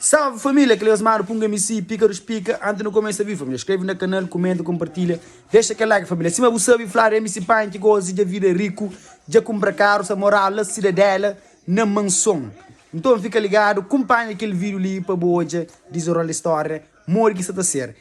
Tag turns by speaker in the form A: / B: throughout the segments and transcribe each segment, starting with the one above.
A: Salve família, kel resmadu punga mi si pika dos pika anti nu kumesa vive família skreve na kanal kumenta kompartilha dexa kel like família sima bu sabe fla di mc Pine ki gosi dja vida riku dja kumpra karu sa morau la sidadela na manson nton fika ligadu kunpanha kel video li pa bu odja dizenrola di storia modi ki sa ta ser.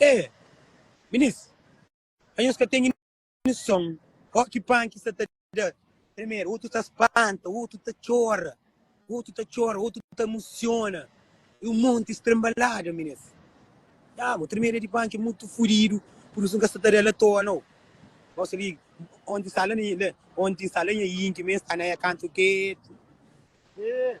A: E! Minis, ma nhos ka ten inison. Ó ki pan ki sta ta da. Primeru otu ta spanta, otu ta txora, otu ta txora, otu ta mosiona. E un monti strambalada, minis. Nha, bo tremeda di pan ki mutu fudidu, purdisu N ka sta ta da la toa nau. Gosi li, onti sta la na nha, onti sta la nha inti, mi sta na nha kantu ketu. E!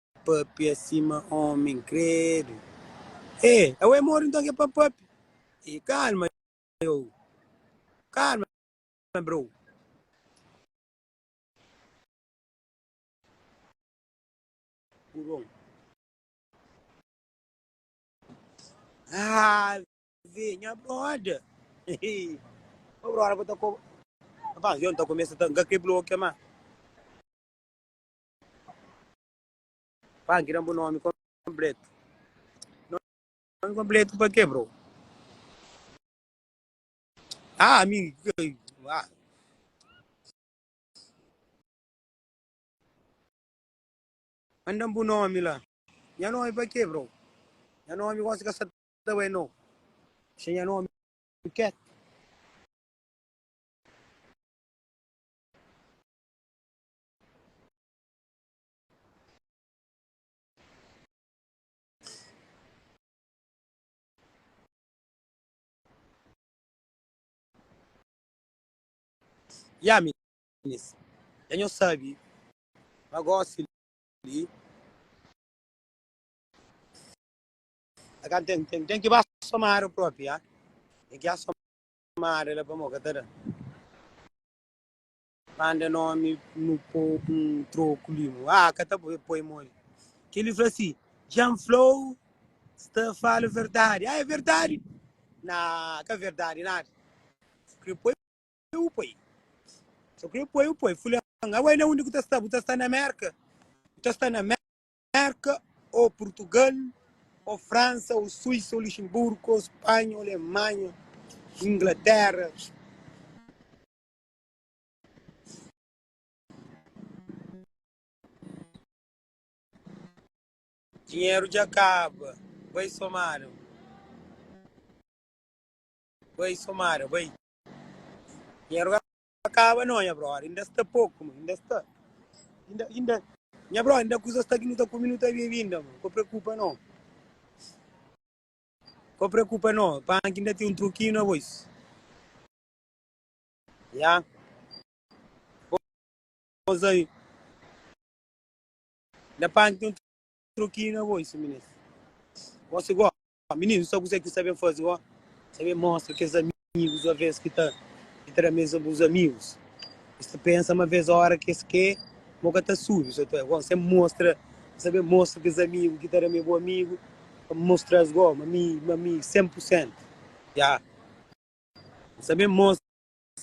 A: pâpia sima ômi inkrédu Ê, ê é módu nton ki é pa pâpia Ê, kalma yo, kalma bro Ave, nha brother Ô brother, ku ta kobra Rapaz, yo N ta kumesa ta N ka krê blokia más. Pan ki da bu nomi kompletu. Nomi kompletu pa ke, bro? Ah, mi. Ah. Mandam bu nomi la. Nha nomi pa ke, bro? Nha nomi gosi ka sa ta bai no. Xe nha nomi ket. Ya minis, dja nho sabi ma gosi li a ka ten ten ten ki ba somada propi ya ten ki ya somada la pamo ka ta da. Manda nomi nu po un troku li mo. Ah ka ta poi mo li. Kel li fla si, Jean Flow sta fala verdadi. Ah é verdadi? Nah ka verdadi nada. Su kre poi u poi. Su kre poi u poi. Fulan, awai na undi ku ta sta? Bu ta sta na Merka? Bu ta sta na Merka o Purtugal o Fransa o Suisa o Luxemburgo o Spanha o Alemanha, Inglatera. Dinheru dja kaba, bai somada, bai somada, bai. Dinheru ka kaba no nha brother, inda sta poku ma, inda sta, inda, inda, nha brother inda kusa sta ki nu ta kume nu ta bebe inda ma, ka preokupa no, ka preokupa no, panki inda ten un trokinu aos. Ya. Pos aí. Da pan tem um troquinho na voz, menino. Você igual. Menino, só você que sabe fazer, ó. Sabe mostra que os amigos, uma vez que tá, que tá na mesa com os amigos. Você pensa uma vez a hora que esse que, boca tá sujo, você tá, você mostra, sabe mostra que os amigos que tá na meu amigo, mostra as goma, mami, mami, 100%. Já. N sa ben mostra,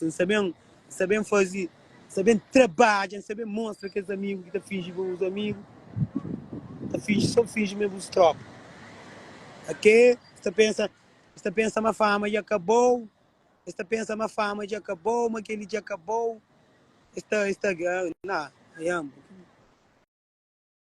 A: N sa ben, N sa ben faze, N sa ben trabadja, N sa ben mostra kes amigu ki ta finji bo bus amigu, ta finji so finji ma é bus tropa ok, es ta pensa, es ta pensa ma fama dja kabou, es ta pensa ma fama dja kabou, ma keli dja kabou, es ta, es ta, na, nha amor.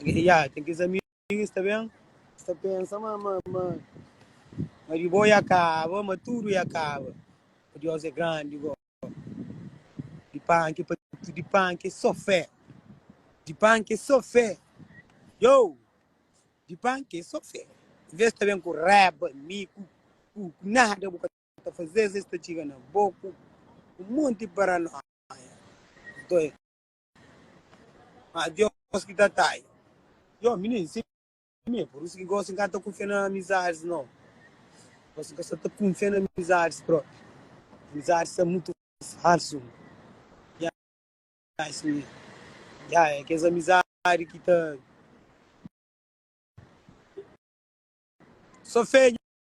A: Ya, tem que examinar isso também. Você pensa, mas, mas, mas, mas de boa e acaba, mas tudo e acaba. Deus é grande, igual. De panque, de panque, só fé. De panque, só fé. Yo! De panque, só fé. Vê se também com reba, mico, com nada, boca. ta fazê-s es ta txiga na bo ku un monti di paranóia. Nton el fla, Má Deus ki ta atrai. Djobe, Mininu, si é mi, é pur isu ki gósi N ka ta kunfia na amizadis nau. Gósi N ka sta ta kunfia na amizadis própi. Amizadis sta mutu falsu. Nha, siñor. Nha, é kes amizadi ki ta. Sô fedju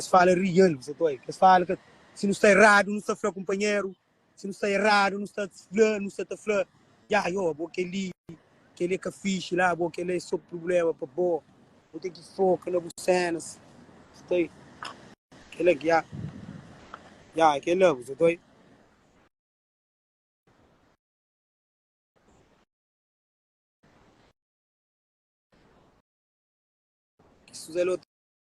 A: Es fala rial, bu sa ta oiu. Es fala ka, si nu sta eradu, nu sta fla kunpanheru, si nu sta eradu, nu sta fla, nu sta ta fla, ya, yo, bo kel-li, kel-li é ka fixi la bo, kel-la é so prubléma pa bo, bu ten ki foka na bu sénas, bu sa ta oiu. Kel-la ki, ya, ya, é kel-la, bu sa ta oiu. Ki suza-l ôtu.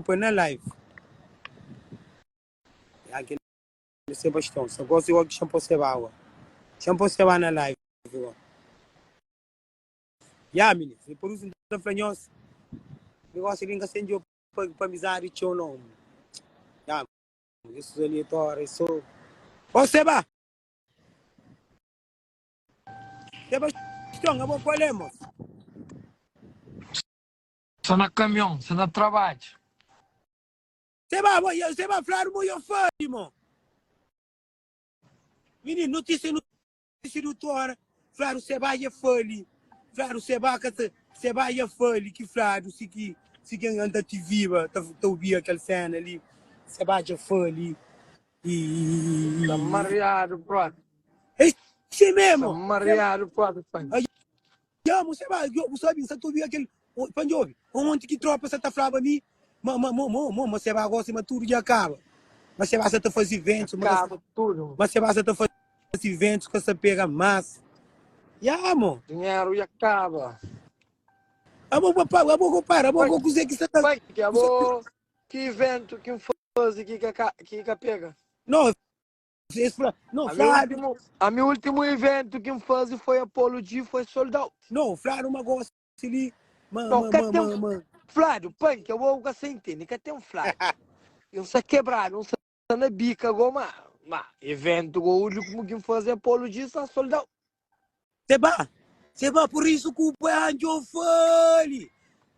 A: pa na live. Ya kel Sebastião sa gosi oki xan po seba awa. Xan po seba na live awa. Ya mini, se por isso ta fla nhos negócio ali nka sen djo pa pa amizade txeu não. Ya, isso ali tora isso. Ó seba. Sebastião, abo qual é, moço? Sa na kamion, sa na trabadju. Seba bo, yo seba fladu mo, yo fazi mo. Mininu, notisia nu si dutora fladu seba ya fali, fladu seba ka ta, seba ya fali ki fladu si ki si ki an ta tiviba ta ta ubia kel sena li, seba ja fali i. Sa mariadu prota. E si memo. Sa mariadu prota fali. Ya mô Xebá, djo, bu sabe, N sa ta obi kel, o, pa ndjobe, onti ki trópa sa ta flaba mi ma, ma, mô, mô, mô, ma Xebá gósi ma tudu dja kaba. Ma Xebá sa ta faze véntus, ma ka sa, Kaba tudu. ma Xebá sa ta faze véntus, ka sa pega más. Ya mô. Dinheru dja kaba. Abo pa, pa, abo ko para, abo Pai, ko kuzê ki sa ta, pai, ki abo, kuzê ki. ki véntu ki N faze ki ka ka, ki ka pega? Nô, Es fla, No, Ami Flávio. últimu, ami últimu iventu ki N faze foi Apollo G foi sold out. No, Flávio, ma gosi li. Ma, No, ma, ka ma, ten ma, ma. Flávio, panki é bo, bu ka sa intende, ka ten Flávio. N sa kebradu, N sa na bika go, ma, ma, iventu go últimu ki N faze Apollo G sa sold out. Seba, seba, por isso que o pai anjo fale.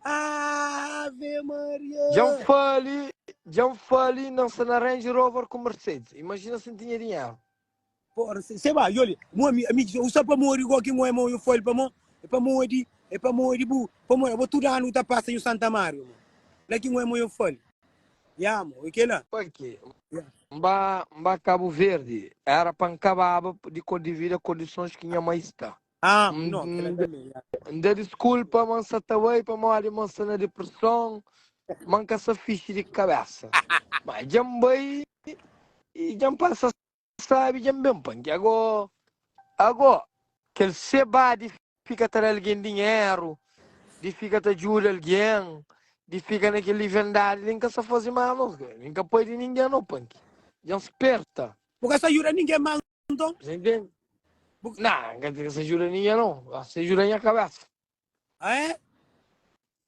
A: Ave Maria. Djan fale, djan fale, nan sa na Range Rover ku Mercedes. Imagina si N tinha dinheru. Por se- seba, yoli, mo ami, ami diz, usa pa modi go ki mo é mo, eu fale pa mo, é pa modi, é pa modi bu, pa modi bo tudo ano ta passa em Santa Maria, mo. La ki mo é mo eu fale. Pake N ba N ba Kabu Verdi era pa N kababa di kordivida kondisons ki nha mai sta. N da diskulpa ma N sa ta bai pamodi ma N sta na dipreson, ma N ka sa fixi di kabesa. Má dja N bai i dja N pasa Sabi dja N ben pa nki agó, agó. Kel sebá di fika ta da algen dinheru, di fika ta djuda algen, di fika na kel livendadi li, N ka sta faze mal nos ka, nen ka padi ningen no pa nki dja N sperta. Bu ka sta djuda ningen ma nton. Sen tende? Bu. Na, N ka ta djuda ningen no, gosi ta djuda nha kabesa. Ah é?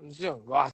A: N dize, N gosi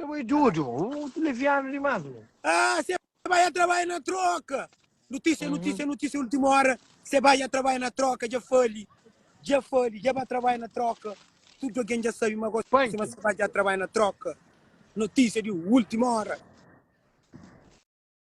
A: Kel bo é dodu, mutu levianu dimás bo. Ah, se bai a trabalha na troka. Notísia, notísia, notísia, última hora. Se bai a trabalha na troka, dja fali, dja fali, dja ba trabalha na troka. Tudo alguém dja sabe, ma gosi Punk. ma se bai dja trabalha na troka. Notísia di última hora.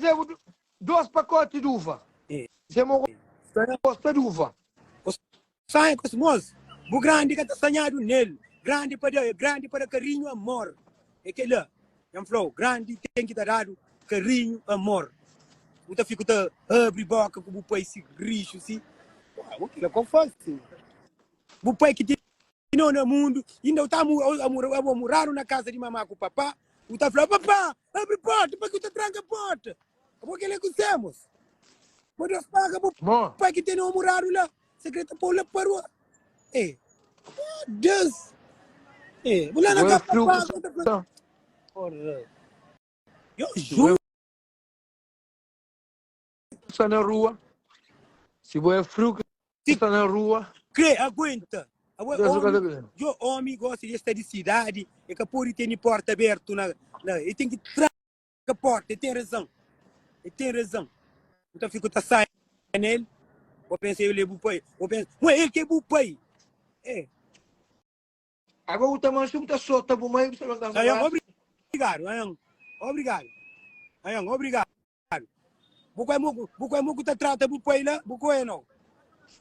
A: Zemo dos pakote di uva. Zemo gosta di uva. Sanha kos mos, bu grandi ka ta sanhadu nel, grandi pa da, grandi pa da karinhu, amor. É kela, N flau, grandi ten ki ta dadu karinhu, amor. Bu ta fiku ta abri boka ku bu pai si rixu si. Kila ku N fasi. Bu pai ki ti. Nau na mundu, inda u ta abo muradu na kasa di mama ku papa, u ta fla, Papa, abri porta, paki u ta tranka porta? Abo kel é ku semos. Bo Deus paga bo pai ki tene-u muradu la, se kre ta pau la pa rua. E, ah, Deus, e, bu la na ka pa paga, u ta fla, Ora, yo jura. sta na rua, si bo é friu ki Ti sta na rua, Krê aguenta. Awe, Deus ka ta omi, bem. yo omi gosta de sta di sidadi, e ka podi teni porta abertu na, na, e ten ki tranka porta, e ten razan, e ten razan. Bu ta fiku ta sai na el, bo pensa el é bu pai, bo pensa, ma el ki é bu pai. É, Agora bu ta mansu, bu ta sota bu mai, bu sa longa bu Ayan, rasa. obrigado, ayan, obrigado, ayan, obrigado. Bu kue muku, bu kue muku ta trata bu pai la, bu kue nau.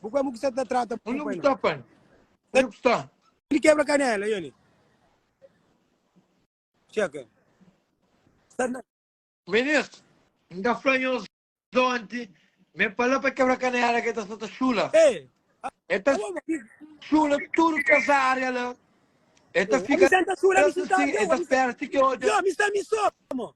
A: Bu kue muku sa ta trata bu pai la. Pan, onde ku sta? Di kebra kanela yo li. Cheka. Sarna. Ministro, N ta fla nhos onti, ma e pala pa kebra kanela ke ta sa ta chula. Ei, E ta Alô, mas chula tudu kes área la. E ta fika Abisanta chula, abisanta sin, e ta área, spera ti ke odja. yo, mi sta mi só, mo.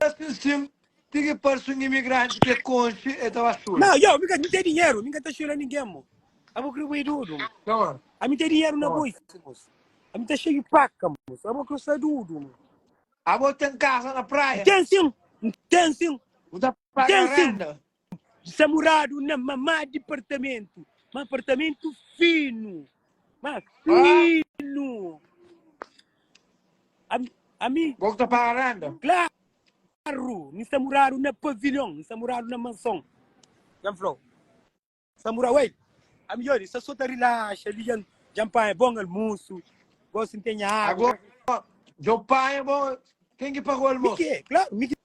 A: Ela sinsin ti ki parsi un imigranti ke konxi e ta ba sula. Não, yo, mi ka, mi ten dinheiro, mi ka ta xula ninguém, mo. Abo kre boi dudu, mo. Não, ah. Ami ten dinheiro na boi, mo. Ami ta xei di paca, mo. Abo kre sa dudu, mo. Abo ten casa na praia? N'ten sim, n'ten sim. Bu ta paga renda? Sa muradu na mamá dipartamentu, ma apartamentu finu, ma finu. Ami, ami, Bo ku ta paga renda? klaru, mi sa muradu na pavilhon, mi sa muradu na manson. Djan flou, sa mura, uei, ami dja di, sa so ta rilaxa li, djan, djan panha bon almusu, gosi n'tenha água. Ago, djo panha bo, ken ki paga o Mi almosu? ke, klaru, mi ke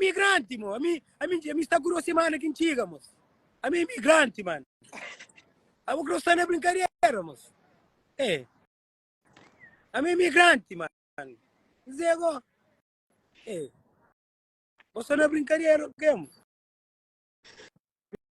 A: Imigranti mo, ami, ami, ami sta ku duas semana ki ntxiga mos. Ami imigranti man. Abo kro sta na brinkadera mos. E. Ami imigranti man. Zego. E. Bo sta na brinkadera kemo.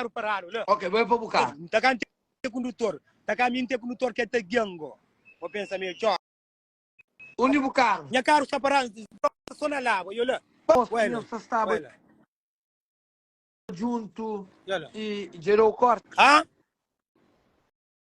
A: karu paradu la. Ok, bo é pa bu karu. N ta ka ntê kundutor. Ta ka mi ntê kundutor k'é ta gia-m ngo. Bo pensa mi é txor. Undi bu karu? Nha karu sta paradu n ta gosta so na la. Bo yo la. Bo é la. Bo é la. Djuntu i djadô korta. Ha?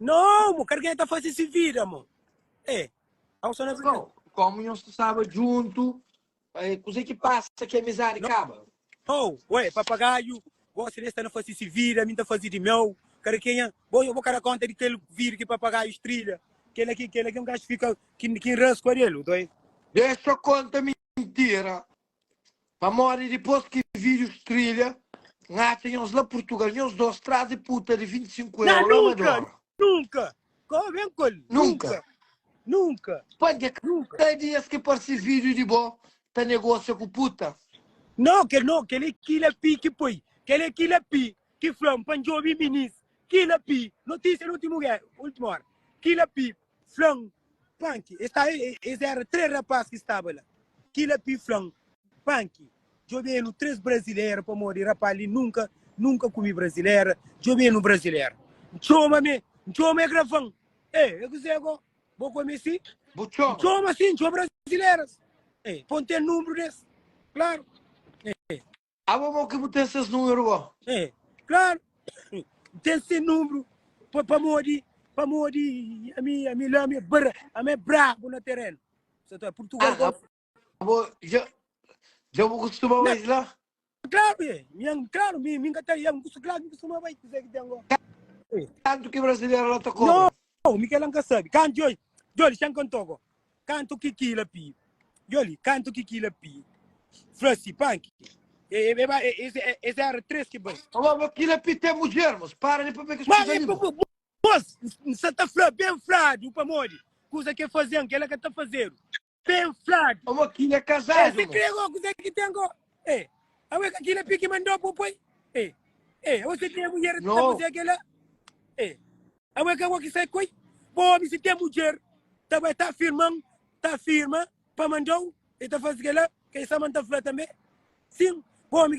A: No mo kar k'é ta fase si vida mo e au so na Brazil. Bom, komu nhos ta staba djuntu, eh, kuzê ki pasa ki amizadi kaba? No, ué, papagaiu, gosi d'es ta na fase si vida, mi n'ta faze di meu, kar k'é nha, bo bo ka da konta di kel vida ki papagaiu strilha, kel-la ki, kel-la ki un gaxu fika ki ki n'rasku adel, u ta oi. Dexa konta mintira, Pamodi dipôs ki vidjus trilha, N atxa nhos la Purtugal, nhos dôs traze puta di 25 euro la ma dora. Nunka! Kó ben ku el! Nunka! Nunka! Pântha, ka di es ki parse vidju di bo ta negósia ku puta? No, kel no, kel é kila pi ki poi, kel é kila pi ki fla-m pa N djobe minis, kila pi, notísia di últimu óra, kila pi, Fla-m, Panki, es ta e, es éra três rapás ki staba la. Kila pi fla-m, Panki, djobe-nu três brazileira, pamodi rapá li nunka, nunka kume brazileira, djobe-nu brazileira. N txoma me, N txoma e grava-m, E, e kuzê gó? Bo kome si? Bu txoma? N txoma si, N txoma brazileiras, E, pon-m ten nunbru des, klaru, E. Abo mau ki bu ten ses numeru bo. É claro N ten se nunbru pa pamodi pamodi ami ami la ami é bra ami é brabu na terenu sa ta Portugal Ah, golf abo dja dja bu kustuma bai la? claro é mian claro mi mi n ka ta ya mi kustu claro mi kustuma bai kuzé ki ten go Kantu ki brasileru la ta kobra? Oh, Miquel N ka sabe kantu Joli, Joli xa N ka N toka Kantu ki kila pi Joli, kantu ki kila pi Fla si panki E, e, e ba e, es, e, es era tres ki bai Oh, oh, oh, kila pi ten mudjer Mos para li pabia ki es Ma kuza e li pa bo Mos N sa ta fla ben fladu Pamodi kuza ke faze-m Kela ka ta fazedu. Ten flad. Amo ki na kazadu. Ê, se kre go kuze ki ten go. Ê, awe ka kila piki mandó po poi. Ê, ê, awe se ten mudjer no. ta kuze kela. Ê, awe ka go ki sai koi. Po omi se ten mudjer ta bai ta firman, ta firma pa mandó e ta fasi kela. Kei sa man ta fla tambe. Sim, po omi.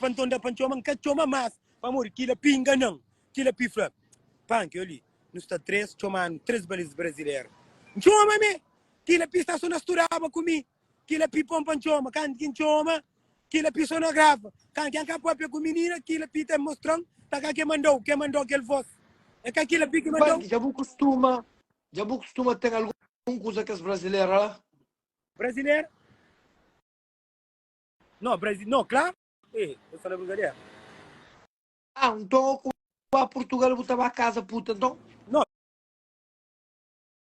A: Pa nton da pa ntxoma, nka txoma mas Pamodi kila pinga nan, kila pifla Panki yoli, nu sta tres txoma anu Tres baliz brazileru ntxoma me Kila pi stason na studaba ku mi Kila pi pon pa ntxoma Kantu ki ntxoma Kila pi sonografa Kantu ki nka papia ku minina Kila pi ta mostra-m Ta ka ke manda-u Ke manda-u kel vos E ka kila pi ki manda-u Panki, dja bu kustuma Dja bu kustuma ten algun kuza kes brazileru la? Brazileru. No, Brasil, no, kla. Ê, ta fala brigadera. Ah, nton, ku ba Purtugal, bu ta ba kaza puta, nton? No.